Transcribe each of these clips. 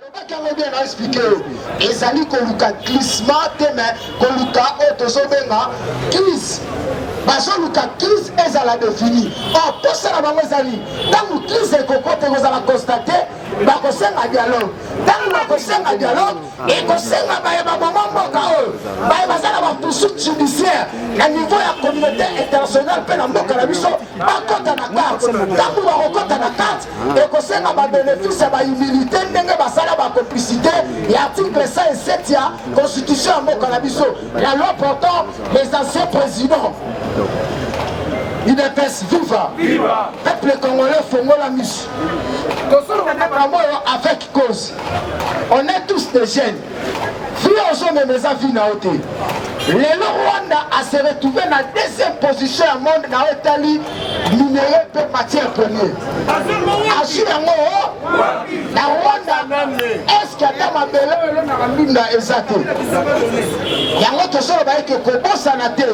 Lobaki yango bien na expliquer yo. Ezali koluka glissement te mais koluka oyo tozobenga crise. bazoluka crise ezala defini or posa na bango ezali ntango crise ekokota ekozala constate bakosenga dialogue ntango bakosenga dialogue ekosenga baye baboma mboka oyo baye baza na bapusuit judiciaire na niveau ya communauté internationale mpe na mboka na biso bakota na kati ntango bakokota na kati ah. ekosenga babenefisi ya bahumilité ndenge basala bacomplicité ya article 107 ya constitution ya mboka na biso la loi portant les anciens présidents udps viva peuple congolais fongola misu tosoloba makambo oyo avec cause on est tous des jeunes vie ozo mema eza vie na yo te lelo rwanda ase retrouve na deuxième position ya monde na oyo etali minere mpe matière premier azwi yango na rwanda eske ata mabele oyo elonaka mbinda eza te yango tozoloba ete kobosana te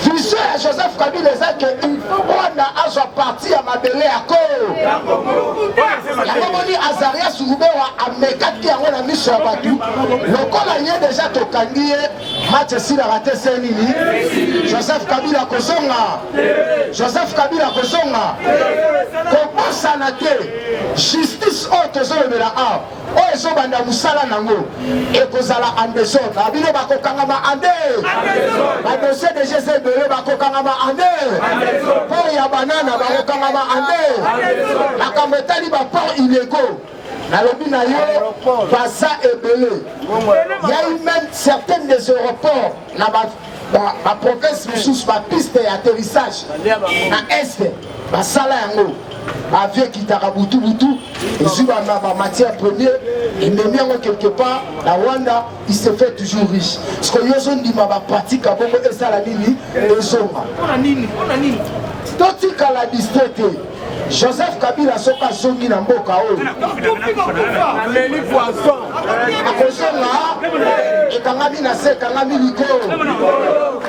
Vision ya Joseph Kabila eza ke il faut Rwanda azwa parti ya mabele ya Congo. Yango moni Azaria Surubewa amekaki yango na miso ya bato lokola ye deja tokangi ye match esilaka te se nini Joseph Kabila kozonga Joseph Kabila kozonga kobosana te justice oyo tozolobela awa oyo ezobanda mosala nango ekozala en desordre na bino bakokangama ande badosie de jese ebele bakokangama ande port ya banana bakokangama ande makambo etali baport illego nalobi na yo baza ebele yai même certaines des aéroports na ba province mosusu ba piste ya atterrissage na est basala yango avion ekitaka butu butu ezwi ba matière première ememi yango quelque part na rwanda il se fait toujours riche parceke yo ozondima bapratique ya bongo esala nini ezonga totikala distrait te Joseph Kabila soki azongi na mboka oyo ameli poison akozonga ekangami na se ekangami likolo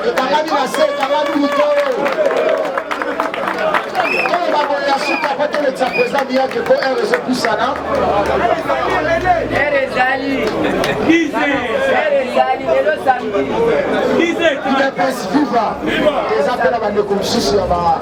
ekangami na se ekangami likolo oyo baboye ya suka po tolekisa presa miyake po r ezopusana udps viva eza mpe na bandeko mosusu ya ba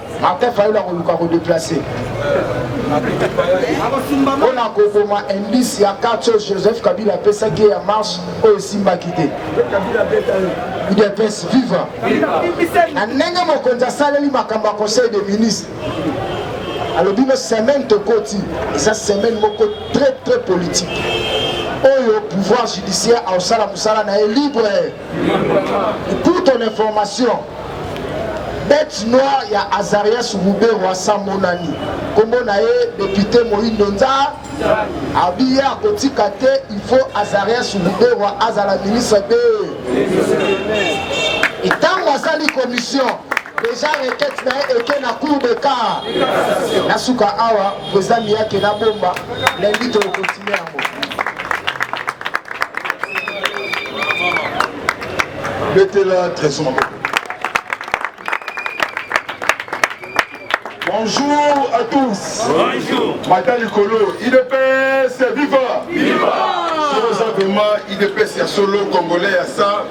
Martin Fayulu akoluka ko deplacer mpo na koboma indice ya carte oyo Joseph Kabila apesaki ya marche oyo esimbaki te udps viva na ndenge mokonzi asaleli makambo ya conseil de ministre alobi no semaine tokoti eza semaine moko très très politique oyo pouvoir judiciaire aosala mosala na ye libre Pour ton information, bête noire ya Azarias Ruberwa Samonani, kombo na ye député Moindo Nza, abi ye akotika te, il faut Azarias Ruberwa azala ministre de ntango asali commission Deja requete na ye eke na cour de car na suka awa president miyake na bomba lundi tokokontinue yango betela trésor maboko Bonjour à tous. Bonjour. Madame Nicolo, IDPS, viva. Viva. Rosa Goma, IDPS, ya solo, congolais, ya ça.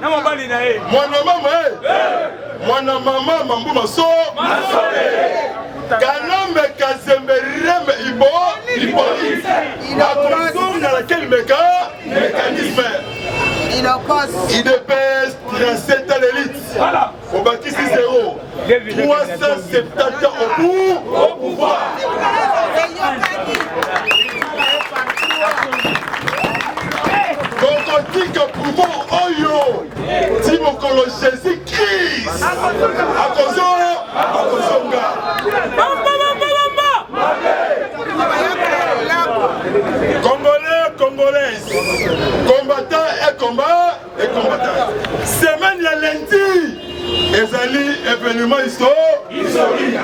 na mobali na ye mwana mama e eh. eh. mwana mama mambu maso kanambe kazembe rembe ibo ipolisi akozonga na kel meka mécanisme idps traceta l'élite obakisi zero 370 ans au bout au pouvoir tokotika pouvoir oyo ti mokolo jésus christ akozonga akozonga congolais congolaise combattant et combat semaine ya lundi ezali événement historique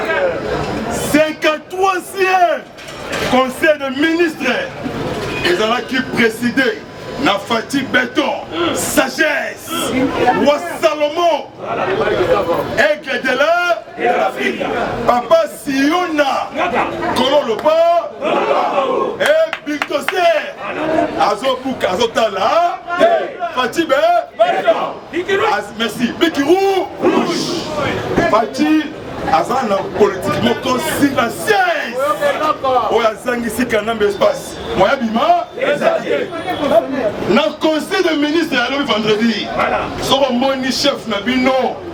53e conseil de ministre ezalaki présidé na fati beton sagesse wa salomon aigle de la papa Siona kolo lobo e bictose azobuka azotala fatibe merci bikiru fati aza na politike moko silencieuse oyo azangisi kanambe espace moya bima na conseil de ministre ya lobi vendredi soko omoni chef na bino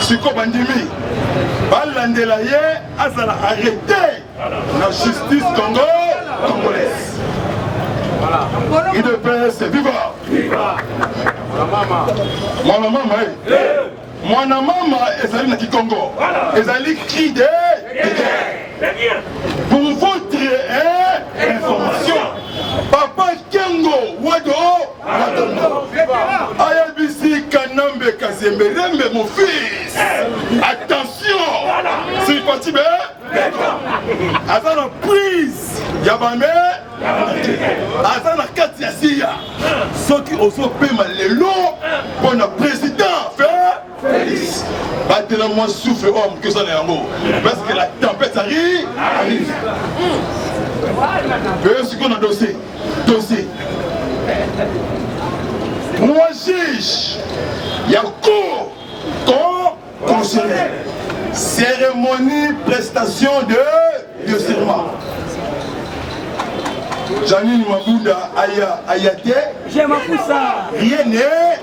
siko bandimi balandela ye azala arrete na justice congo congolaise udps viva mwana mama e eh. mwana mama ezali na kikongo ezali cri de pour votre information papa kengo wado ayebisi kanambe kazembe rembe mon fils attention siripati be aza na prise ya bame aza na kati ya siya soki ozopema lelo mpo na president Felix batela mwa souffle oyo moke oza na yango parce que la tempête arrive arrive oyo sikoyo na dossier dossier mwa juge ya cour con constitutionnel cérémonie prestation de de serment janine mabunda aya aya te rien ne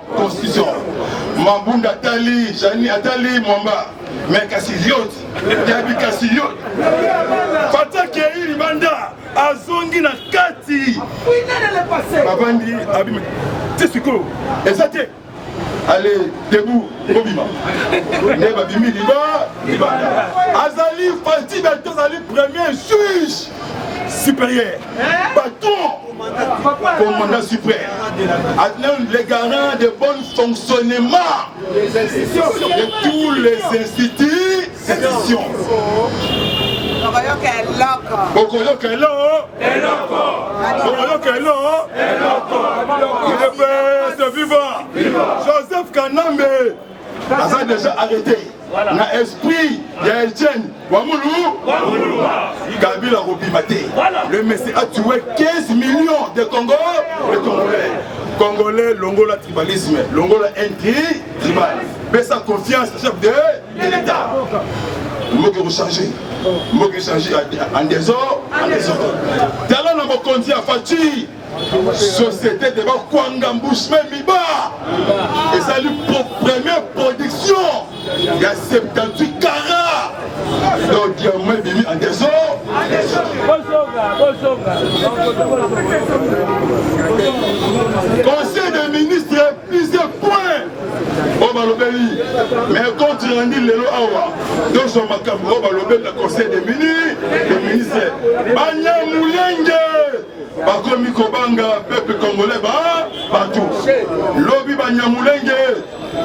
constitution mabunda atali jani atali mwamba me kasi yoti yabi kasi yoti fata kei libanda azongi na kati babandi abi te sikoyo eza te ale debu kobima nde babimi liba libanda azali fati bato azali premier juge supérieur eh? baton commandant suprême, les garants de bon fonctionnement de tous les institutions. okoyoka eloko okoyoka eloko okoyoka eloko viva joseph kanambe aza deja arrete na esprit ya elchen wamulu kabila akobima te le messi a tué 15 millions de congo de congolais congolais longola tribalisme longola intri tribal pesa confiance chef de l'état mboka ekochange mboka echange en desordre en desordre tala na mokonzi ya faci société de bakwanga mbushme miba ezali première production ya 78 cara donc diamant ebimi en desor conseil des ministres plusieurs points oyo balobeli mais compte rendu lelo awa tozwa makambo oyo balobeli na conseil des ministres banyamulenge bakomi kobanga peuple congolais ba batu lobi banyamulenge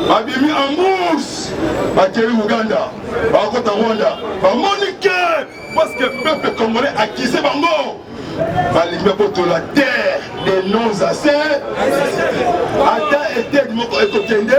babimi ambourse bakei uganda bakota rwanda bamoni ke parceke peuple congolais akize bango balingi babotola terre de non assez ata etede moko ekokende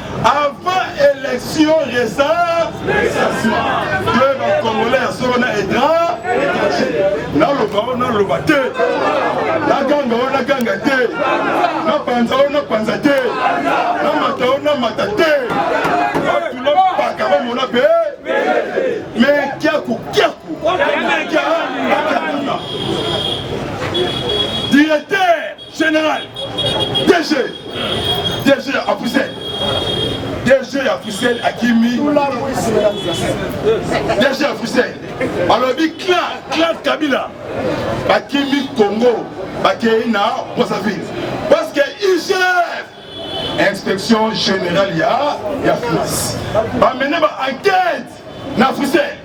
Avant élection, resa, que ba Congolais ya solo na etra, naloba o naloba te, naganga o naganga te, napanza o napanza te, namata o namata te, batula mpaka bamona mpe me kiaku kiaku kiaku General, DG, DG ya Africel, DG ya Africel akimi, DG ya Africel alobi clan clan Kabila bakimi Congo bakei na Brazzaville parce que IGF inspection générale ya ya France bamene ba enquête na Africel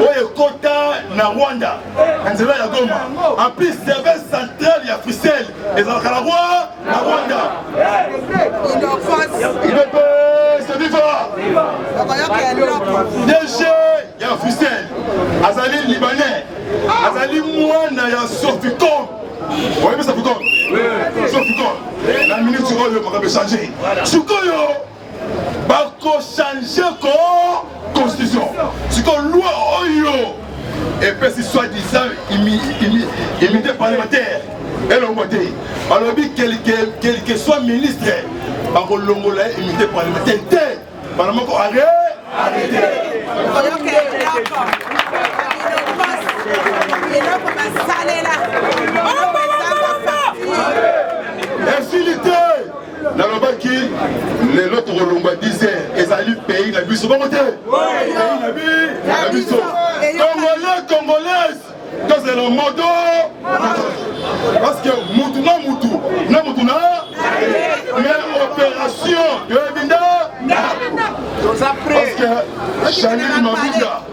oyo ekota na rwanda na nzela ya goma en plus service central ya frisel ezalaka na rwa na rwanda idps viva dg ya frisel azali libanais azali mwana ya soficom oyebisa ficom soficom na minute oyo makambo echange sikoyo bako change ko constitution siko loi oyo epesi soit disant immunité parlementaire elongo te balobi quelque soit ministre bakolongola ye immunité parlementaire te bana moko are arrete eloko basalela nalobaki lelo tokolongwa 10 heures ezali pays na biso bongo te na biso congolais congolaise tozela moto parce que mutu na mutu na mutu na mais opération toyebi nda parce que chaneli mabuda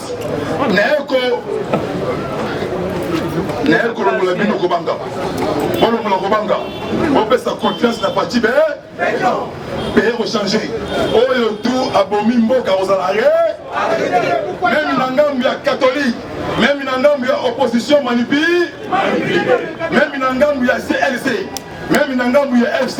nayeko naye kolongola bino kobanga bolongola kobanga bopesa confiance na pati be peye kochange oyo tu abomi mboka kozala re meme na ngambu ya katholike meme na ngambu ya opposition manipi meme na ngambu ya clc meme na ngambu ya fc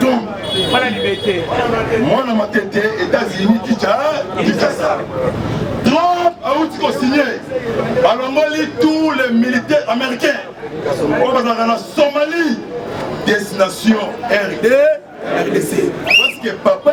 donc mwana libete mwana matete états-unis kicha kinshasa trump awuti kosigne balongoli tous les militaires américains oyo bazalaka na somalie destination rd rdc parce que papa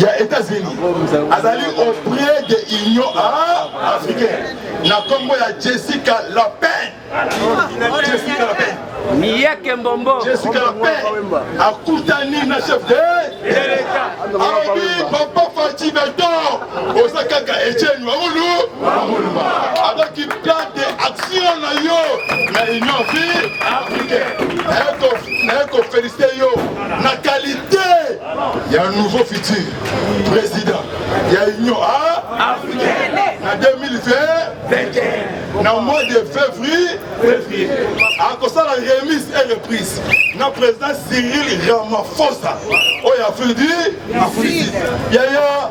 ya États-Unis azali auprès de Union africaine na kombo ya Jessica Lapin Jessica Lapin miyeke mbombo Jessica Lapin akutani na chef de l'État alobi papa Fatshi Beton oza kaka Etienne Wangulu azaki plan de action na yo na Union africaine naye kofélicite yo na qualité ya nouveau futur président ya union africaine na 2020 na mois de février février akosala remise et reprise na président cyril ramaphosa oyo afridi afridi yaya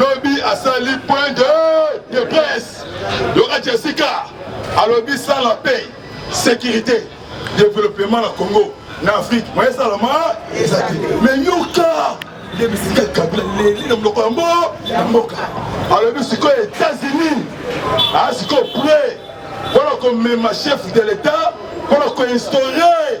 lobi asali point de, de presse loka jessica alobi sans la paix sécurité développement na congo na afrique moye esalama ezali mais nyoka nde bisika kabila leli na monoko yango ya mboka alobi sikoyo états-unis aa sikoyo près mpona komema chef de l'état mpona koinstaure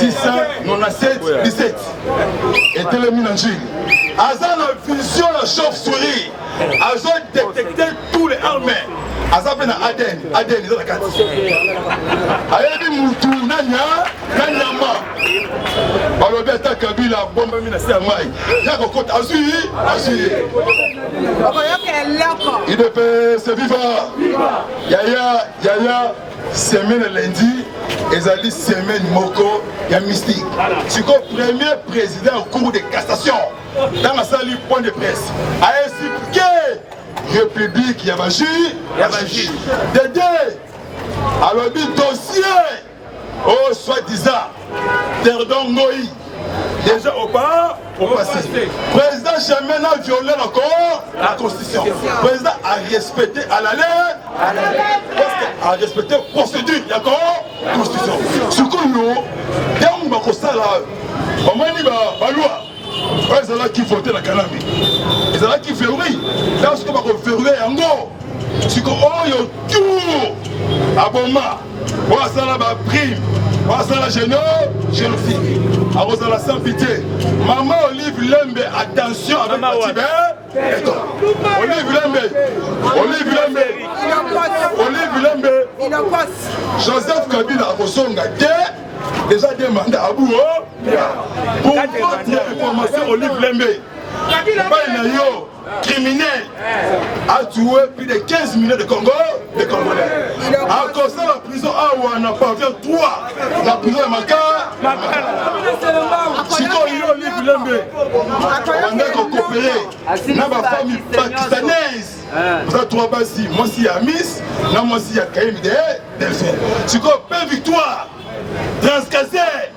697 17 etelemi na njili aza na vision ya chauve souris azo détecte tous les armes aza mpe na adn adn eza na kati ayebi mutu nanya na nyama balobi ata kabila abombami na se ya mai ya kokota azwi ye azwi ye idps viva yaya yaya Semaine ya lundi ezali semaine moko ya mystique sikoyo premier président ya cour de cassation ntango asali point de presse aexplike république ya bajuge ya bajuge dede alobi dossier oyo oh, soit disant Perdon Ngoyi, déjà au pas au passé. Président jamais n'a violé encore la constitution. Président a respecté à la lettre, à la lettre, parce que a respecté procédure, d'accord Constitution. Ce que nous, on va comme ça là, on va dire la loi. oyo ezalaki vote na kanambe ezalaki verrouille ntango sikoyo bakoverrouille yango siko oyo tour aboma oyo asala ba prime oyo asala geno génocide akozala sans pitié mama olive lembe attention avec batibe olive lembe olive lembe olive lembe joseph kabila akozonga te déjà deux mandats à bout pour votre information olive lembe epai na yo criminel a tué plus de 15 millions de Congo de Congolais akosala prison awa na pavillon 3 na prison ya makala sikoyo yo olive lembe banda kokopere na bafamille pakistanaise baza trois basi mwasi ya miss na mwasi ya kayemide delphin sikoyo pe victoire transcase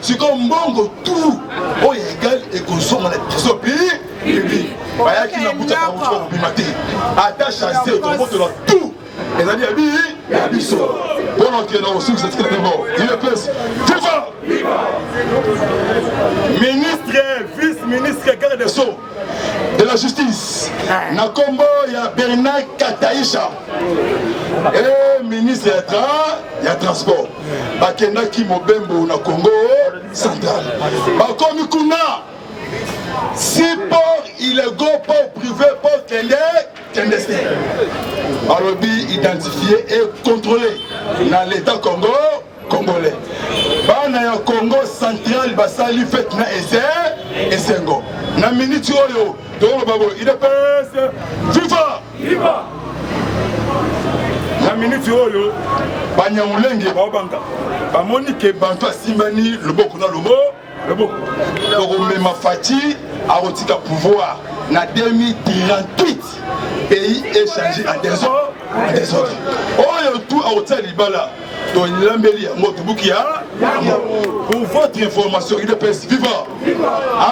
sikoyo mbongo tout oyo egal ekozonga na trésor public bayaki na buta bango kobima te ata chasse tokobotola tout ezali ya bi ya biso mpono okenda kosukisa tikela te moko udps viva ministre vice ministre garde des sceaux de la justice na nkombo ya bernard kataisha e ministre ya transport bakendaki mobembo na congo central bakomi kuna si port ilego port privé port kende kende se balobi identifie et contrôle na l'état congo congolais bana ya congo central basali fete na ese esengo na miniti oyo tokoloba boye idps viva Liba. na miniti oyo banyaulenge baobanga bamoni ke bantu asimbani loboko na lobo loboko tokomema faci akotika pouvoir na 2038 pays echange en desordre oyo tu akotia libala tolambeli yango tobuki ya pour votre information udps viva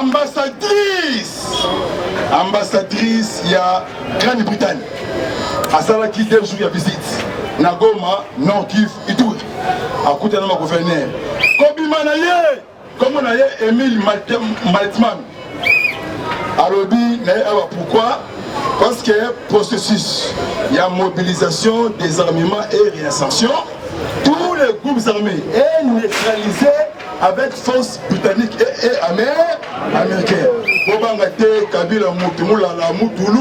ambassadrice ambassadrice ya grande bretagne asalaki deux jours ya visite na goma nord kiv ituri akutana na gouverneur kobima na ye Kombo na ye Emile Maltman alobi na ye awa pourquoi parce que processus ya mobilisation désarmement et réinsertion tous les groupes armés est neutralisé avec force britannique et, et américaine bobanga te kabila mutu mulala mutulu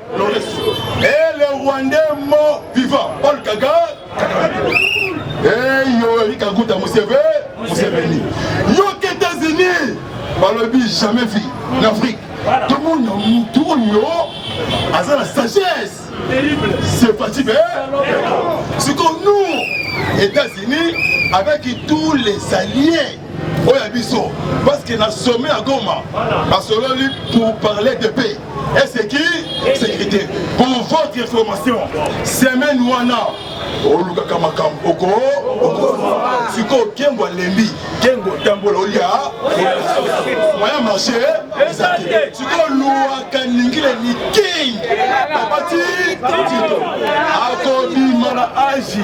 Et le Rwandais mort vivant, Paul Kagame, et Yoweri Kaguta Museveni. Yo qu'États-Unis, balobi jamais vu en Afrique. Tout le monde a tout yo, aza la sagesse. C'est pas si bien. C'est comme nous, États-Unis, avec tous les alliés oyo ya biso parce que na sommet ya goma basololi pour parler de paix et c'est qui sécurité pour votre information semaine wana olukaka makambo oko sikoyo kengo alembi kengo otambola olia moyen marché eza te sikoyo luwaka ningile niking babati tito akobima na agi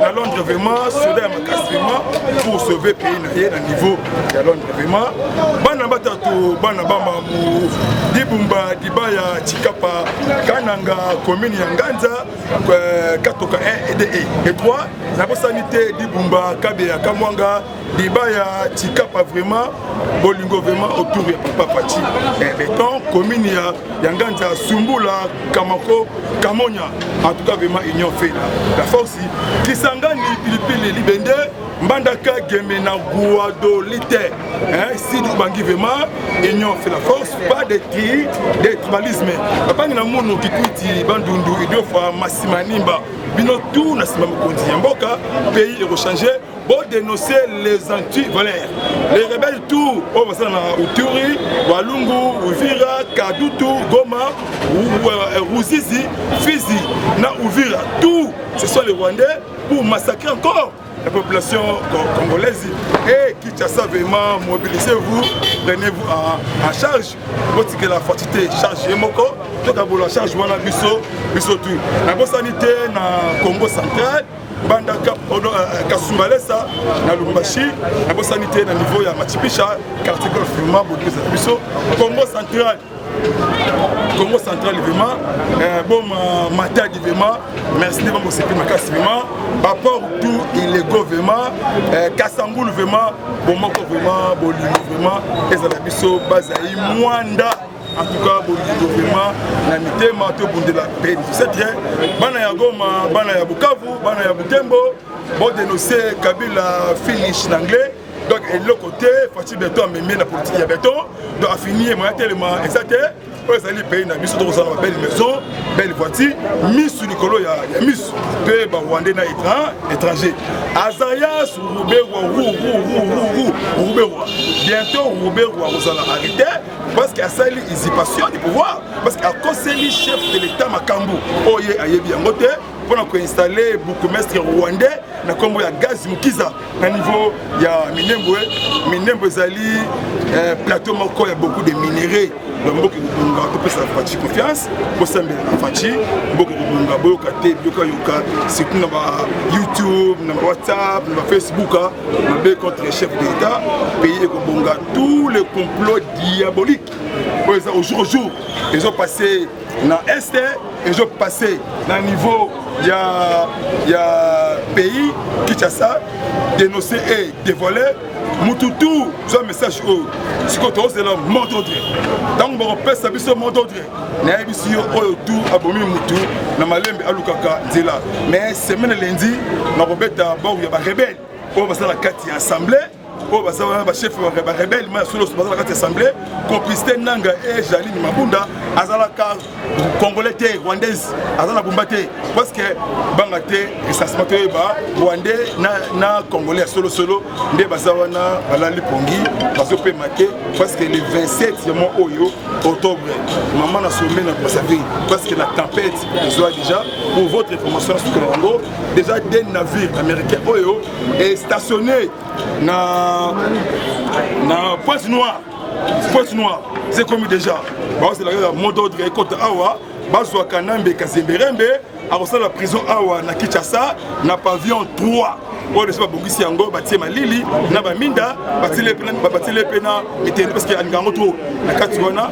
na londres vraiment soda ya makasi vraiment pour sauver pays na ye na niveau ya londres vraiment bana batatu bana bamamu dibumba dibaya chikapa kananga commune ya nganza euh, katoka 1 ede e 3 nabosani te dibumba kabeya kamwanga Débat ya Tikapa vraiment bolingo vraiment autour ya papa Pachi. Eh beton commune ya ya Nganza Sumbula Kamako Kamonya en tout cas vraiment union fait là. La force Kisangani pilipili libende Mbandaka Gemena Guado Lite. Hein si nous bangi vraiment union fait la force pas de tri de tribalisme. Papa na mono kikuti bandundu idiofa masimanimba bino tout na sima mokonzi ya mboka pays ekochange bo dénoncer les anti-valeurs les rebelles tout oyo basala na uturi walungu uvira kadutu goma euh, ruzizi fizi na uvira tout ce sont les rwandais pour massacrer encore la population congolaise et Kinshasa vraiment mobilisez-vous prenez-vous en, en charge botikela fatite charge ye moko tokabola charge wana biso biso tu nabosani te na congo central banda euh, kasumbalesa na lumbashi nabosani te na niveau ya machipisha quartier golf vraiment bokiza biso congo central congo central vraiment euh, boma euh, matadi vraiment merci nde bamoseki makasi vraiment baport tout illego vraiment euh, kasambulu vraiment bomoko vraiment bolingo vraiment ezala biso bazali mwanda En tout cas, Bolido vraiment, na mitema to bundela peine. C'est très bana ya Goma, bana ya Bukavu, bana ya Butembo, bon dénoncer Kabila finish l'anglais. Donc eloko te, Fatshi Beton amemi na politique ya Beton, donc afini moyen tellement exact oyo ezali pays na biso tokozala ba belle maison belle voiture misu likolo ya, ya misu mpe barwandais na étranger azaya sur ruberwa rururururuberwa bientôt ruberwa akozala arrete parce que asali usurpation du pouvoir parce que akoseli chef de l'état makambo oyo ye ayebi yango te mpo na koinstalle bourgmestre rwandais na nkombo ya gaz mukiza na niveau ya minembwe minembwe ezali eh, plateau moko ya beaucoup de minerais donc mboka ekobonga topesa faci confiance bosambela na faci mboka ekobonga boyoka te biyokayoka surtout na ba youtube na ba whatsapp na ba facebook mabe contre chef de l'état pays ekobonga tout le complot diabolique oyo eza au jour au jour ezo passe na este ezo passe na niveau ya ya pays kinshasa dénoncer et dévoiler mutu tu zwa message oyo sikoyo tozela mot d'ordre ntango bakopesa biso mot d'ordre nayebisi yo oyo tu abomi mutu na malembe alukaka nzela mais semaine lendi nakobeta bor ya barebele oyo basala kati ya assemblée oyo baza wana bachef barebele ma ya soloso baza na kati ya assemblée complicité nanga e jaline mabunda azalaka congolais te rwandaise aza na bumba te parce que banga te esasima toyeba rwandais na, na congolais ya solosolo nde baza wana balali pongi bazopema te parce que le 27 ya mwa oyo octobre mama na sombe na brazzaville parce que la tempête ezwa déjà pour votre information suka yango déjà de navire américain oyo et stationné na na pointe noire pointe noire c'est comme déjà baozelaka mot d'ordre ekota awa bazwa kanambe kazemberembe akosala prison awa na kinshasa na pavillon 3 oyo deja babongisi yango batie malili na baminda batiele mpe na miteni parce que alinga yango trop na kati wana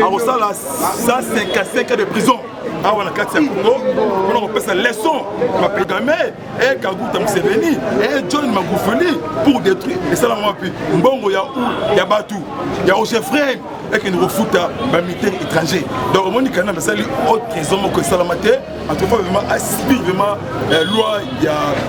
akosala 155 de prison awa na kati ya congo mpona kopesa leçon bapedame eh kaguta museveni eh john magufuli pour détruire esalama wapi mbongo ya u ya batu ya ogefrem ekende kofuta bamilitaire étranger donc omoni kanambe asali haute trésor moko esalama te en tout cas vraiment aspire vraiment loi ya